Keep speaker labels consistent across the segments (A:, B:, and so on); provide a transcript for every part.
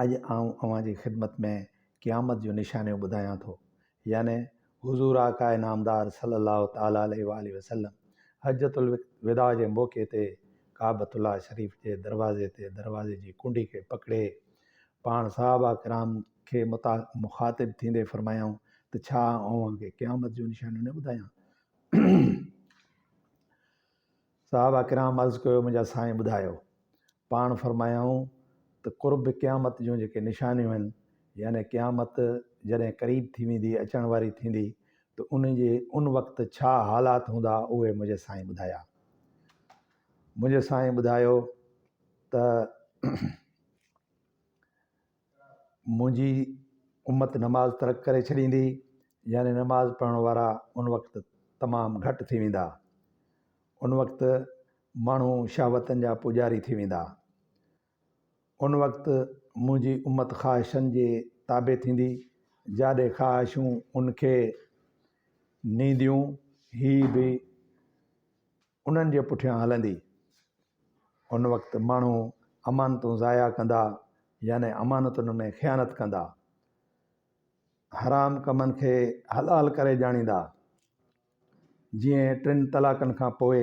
A: اڄ آئون اوهان جي خدمت ۾ قيامت جون نشانيون ٻڌايان ٿو يعني حضور آقاء نامدار صلّي الله تعالٰي عليه واٰله وسلّم حجّة الوداع جي موقعي تي ڪعبة الله شريف جي دروازي تي دروازي جي ڪنڊي کي پڪڙي پاڻ صحابه ڪرام کي مخاطب ٿيندي فرمايائون ته ڇا آئون اوهان کي قيامت جون نشانيون نه ٻڌايان؟ صحابه ڪرام عرض ڪيو منهنجا سائين ٻڌايو. پاڻ فرمايائون ته قرب قيامت جون جيڪي نشانيون آهن يعني قيامت جڏهن قريب ٿي ويندي اچڻ واري ٿيندي ته ان جي ان وقت ڇا حالات هوندا اهي منهنجي سائين ٻڌايا. منهنجي سائين ٻڌايو ته. منهنجي امت نماز ترڪ ڪري ڇڏيندي يعني نماز پڙهڻ وارا ان وقت تمام گهٽ ٿي ويندا ان وقت ماڻهو شهوتن جا پوڄاري ٿي ويندا ان وقت منهنجي امت خواهشن جي تابع ٿيندي جاڏي خواهشون ان کي نينديون هي به انهن جي پٺيان هلندي. ان وقت ماڻهو امانتون ضايع ڪندا يعني امانتن ۾ خيانت ڪندا. حرام ڪمن کي حلال ڪري ڄاڻيندا. جيئن ٽن طلاقن کان پوء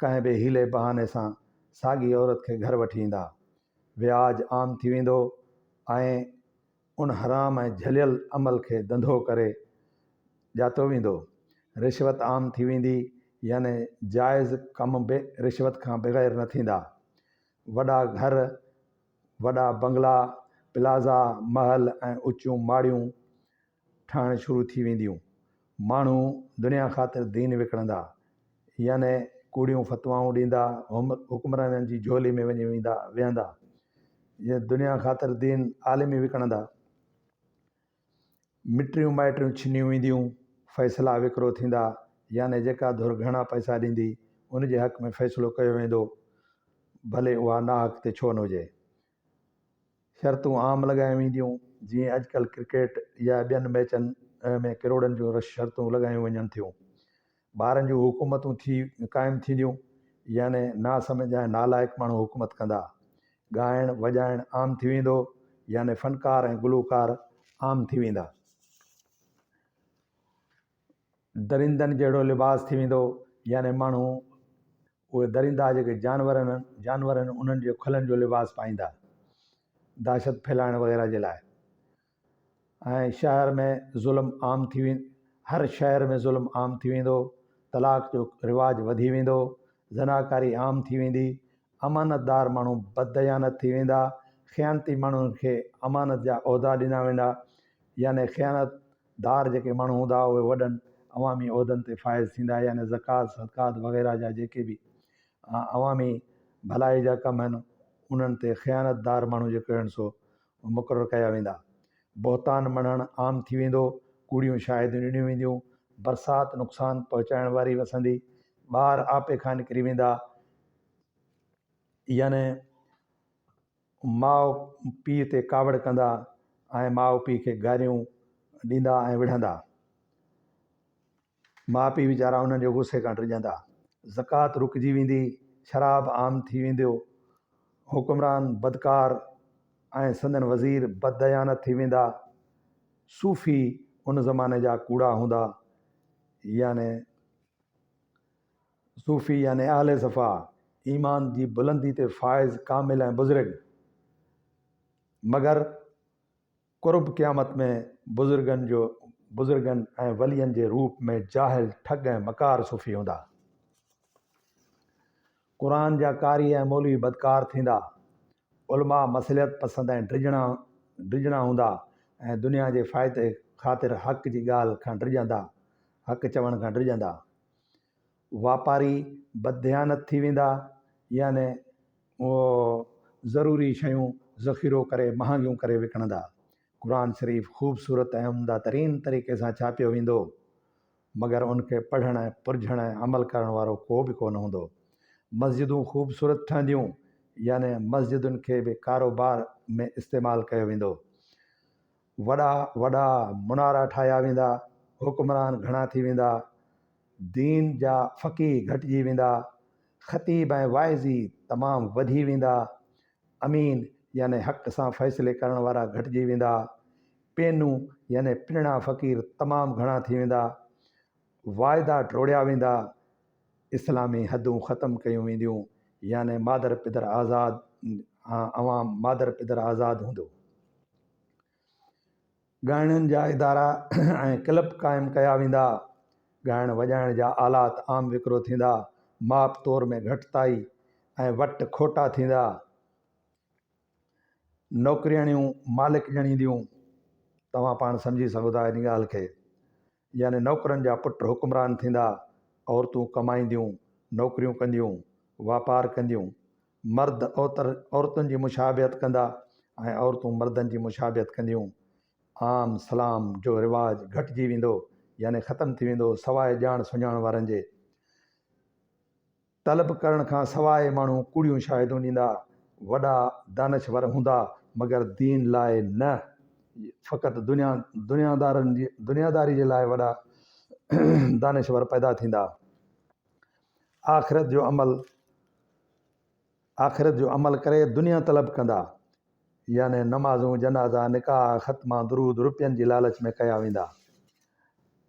A: ڪنهن به حيلي بهاني سان ساڳي عورت کي گهر وٺي ايندا. وياج عام ٿي ويندو ۽ ان حرام ۽ جهليل عمل کي ڌنڌو ڪري ڄاتو ويندو. رشوت عام ٿي ويندي يعني جائز ڪم به رشوت کان بغير نه ٿيندا. وڏا گهر، وڏا بنگلا، پلازا، محل ۽ اچيون ماڙيون ٺهڻ شروع ٿي وينديون. ماڻهو دنيا خاطر دين وڪڻندا يعني ڪوڙيون فتوائون ڏيندا حڪمرانن جي جهولي ۾ وڃي ويندا ويهندا جيئن دنيا خاطر دين عالم ئي وڪڻندا مٽيون مائٽيون ڇنيون وينديون فيصلا وڪرو ٿيندا يعني جيڪا ڌر گهڻا پئسا ڏيندي ان جي حق ۾ فيصلو ڪيو ويندو ڀلي اها ناحق تي ڇو نه هجي شرطون عام لڳايون وينديون جيئن اڄڪلهه ڪرڪيٽ يا ٻين ميچن ۾ ڪروڙن جون رش شرطون لڳايون وڃن ٿيون. ٻارن جون حڪومتون ٿي قائم ٿينديون يعني ناسمجهه ۽ نالائق ماڻهو حڪومت ڪندا. ڳائڻ وڄائڻ عام ٿي ويندو يعني فنڪار ۽ گلوڪار عام ٿي ويندا. درندن جهڙو لباس ٿي ويندو يعني ماڻهو اهي درندا جيڪي جانور جانور آهن انهن جي کلن جو لباس پائيندا دهشت ڦهلائڻ وغيره جي لاء ۽ شهر ۾ ظلم عام ٿي وي هر شهر ۾ ظلم عام ٿي ويندو طلاق جو رواج وڌي ويندو زناڪاري عام ٿي ويندي امانت دار ماڻهو بد ديانت ٿي ويندا خيانتي ماڻهن کي امانت جا عهدا ڏنا ويندا يعني خيانت دار جيڪي ماڻهو هوندا هئا اهي وڏن عوامي عهدن تي فائز ٿيندا هئا يعني زڪوات صدقات وغيره جا جيڪي به عوامي ڀلائي جا ڪم آهن انهن تي خيانت دار ماڻهو جيڪي آهن سو مقرر ڪيا ويندا بهتان مڙهڻ عام ٿي ويندو ڪوڙيون شاهديون ڏنيون وينديون برسات نقصان پهچائڻ واري وسندي ٻار آپي کان نڪري ويندا يعني ماء پيء تي ڪاوڙ ڪندا ۽ ماء پيء کي گاريون ڏيندا ۽ وڙهندا. ماء پيء ويچارا انهن جي غصي کان ڊڄندا. زڪوات رڪجي ويندي، شراب عام ٿي وينديو، حڪمران بدڪار ۽ سندن وزير بدديانت ٿي ويندا. صوفي ان زماني جا ڪوڙا هوندا يعني صوفي يعني اهل صفا، ايمان جي بلندي تي فائز، ڪامل ۽ بزرگ. مگر قرب قيامت ۾ بزرگن جو بزرگن ۽ ولين جي روپ ۾ جاهل، ٺڳ ۽ مڪار صوفي هوندا. قرآن جا قاري ۽ مولوي بدڪار ٿيندا. علماء مصلحت پسند ۽ ڊڄڻا ڊڄڻا هوندا ۽ دنيا جي فائدي خاطر حق جي ڳالهه کان ڊڄندا، حق چوڻ کان ڊڄندا. واپاري بدديانت ٿي ويندا يعني اهي ضروري شيون ذخيرو ڪري مهانگيون ڪري وڪڻندا. قرآن شريف خوبصورت ۽ عمده ترين طريقي سان ڇاپيو ويندو مگر ان کي پڙهڻ، پرجهڻ ۽ عمل ڪرڻ وارو ڪو به ڪونه هوندو. مسجدون خوبصورت ٺهنديون يعني مسجدن کي به ڪاروبار ۾ استعمال ڪيو ويندو. وڏا وڏا منارا ٺاهيا ويندا، حڪمران گهڻا ٿي ويندا، دين جا فقيه گهٽجي ويندا، خطيب ۽ واعظي تمام وڌي ويندا، امين يعني حق سان فيصلي ڪرڻ وارا گهٽجي ويندا، پينون يعني پنڻا فقير تمام گهڻا ٿي ويندا، واعدا ٽوڙيا ويندا، اسلامي حدون ختم ڪيون وينديون يعني مادر پدر آزاد عوام مادر پدر آزاد هوندو. ڳائڻين جا ادارا ۽ ڪلب قائم ڪيا ويندا، ڳائڻ وڄائڻ جا آلات عام وڪرو ٿيندا، ماپ تور ۾ گهٽتائي ۽ وٽ کوٽا ٿيندا، نوڪرياڻيون مالڪ ڄڻينديون، توهان پاڻ سمجهي سگهو ٿا ان ڳالهه کي. يعني نوڪرن جا پٽ حڪمران ٿيندا، عورتون ڪمائينديون، نوڪريون ڪنديون، واپار ڪنديون، مرد اوتر عورتن جي مشابهت ڪندا ۽ عورتون مردن جي مشابهت ڪنديون، عام سلام جو رواج گهٽجي ويندو يعني ختم ٿي ويندو سواء ڄاڻ سڃاڻ وارن جي. طلب ڪرڻ کان سواء ماڻهو ڪوڙيون شاهدون ڏيندا، وڏا دانشور هوندا مگر دين لاء نه، فقط دنيا دنيادارن جي دنياداري جي لاء وڏا دانشور پيدا ٿيندا. آخرت جو عمل آخرت جو عمل ڪري دنيا طلب ڪندا، يعني نمازون، جنازا، نڪاح، ختما، درود، روپين جي لالچ ۾ ڪيا ويندا.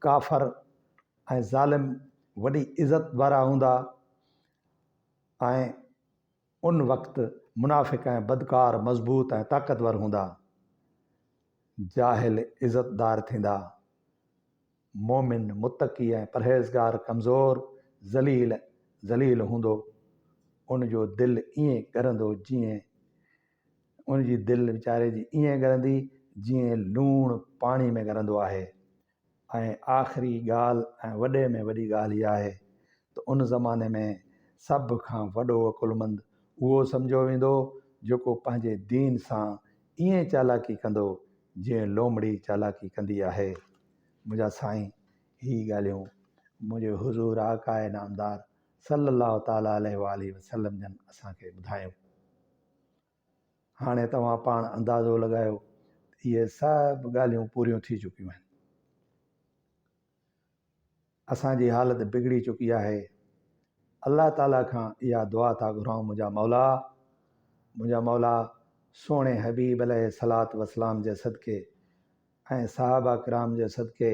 A: ڪافر. ۽ ظالم وڏي عزت وارا هوندا ۽ ان وقت منافق ۽ بدڪار مضبوط ۽ طاقتور هوندا. جاهل عزتدار ٿيندا. مؤمن، متقي ۽ پرهيزگار ڪمزور، ذليل، ذليل هوندو. ان جو دل ائين ڳرندو جيئن ان جي دل ويچاري جي ائين ڳرندي جيئن لوڻ پاڻي ۾ ڳرندو آهي. ۽ آخري ڳالهه ۽ وڏي ۾ وڏي ڳالهه اها آهي ته ان زماني ۾ سڀ کان وڏو عقلمند اهو سمجهيو ويندو جيڪو پنهنجي دين سان ائين چالاڪي ڪندو جيئن لومڙي چالاڪي ڪندي آهي. منهنجا سائين هي ڳالهيون منهنجي حضور آقاء نامدار صلّي اللّٰه تعالٰي عليه واٰله وسلّم جن اسان کي ٻڌايون. هاڻي توهان پاڻ اندازو لڳايو ته اهي سڀ ڳالهيون پوريون ٿي چڪيون آهن. اسان جي حالت بگڙي چڪي آهي. الله تعاليٰ کان اها دعا ٿا گهرائون منهنجا مولا، منهنجا مولا سهڻي حبيب عليه الصلواة والسلام جي صدقي ۽ صحابه ڪرام جي صدقي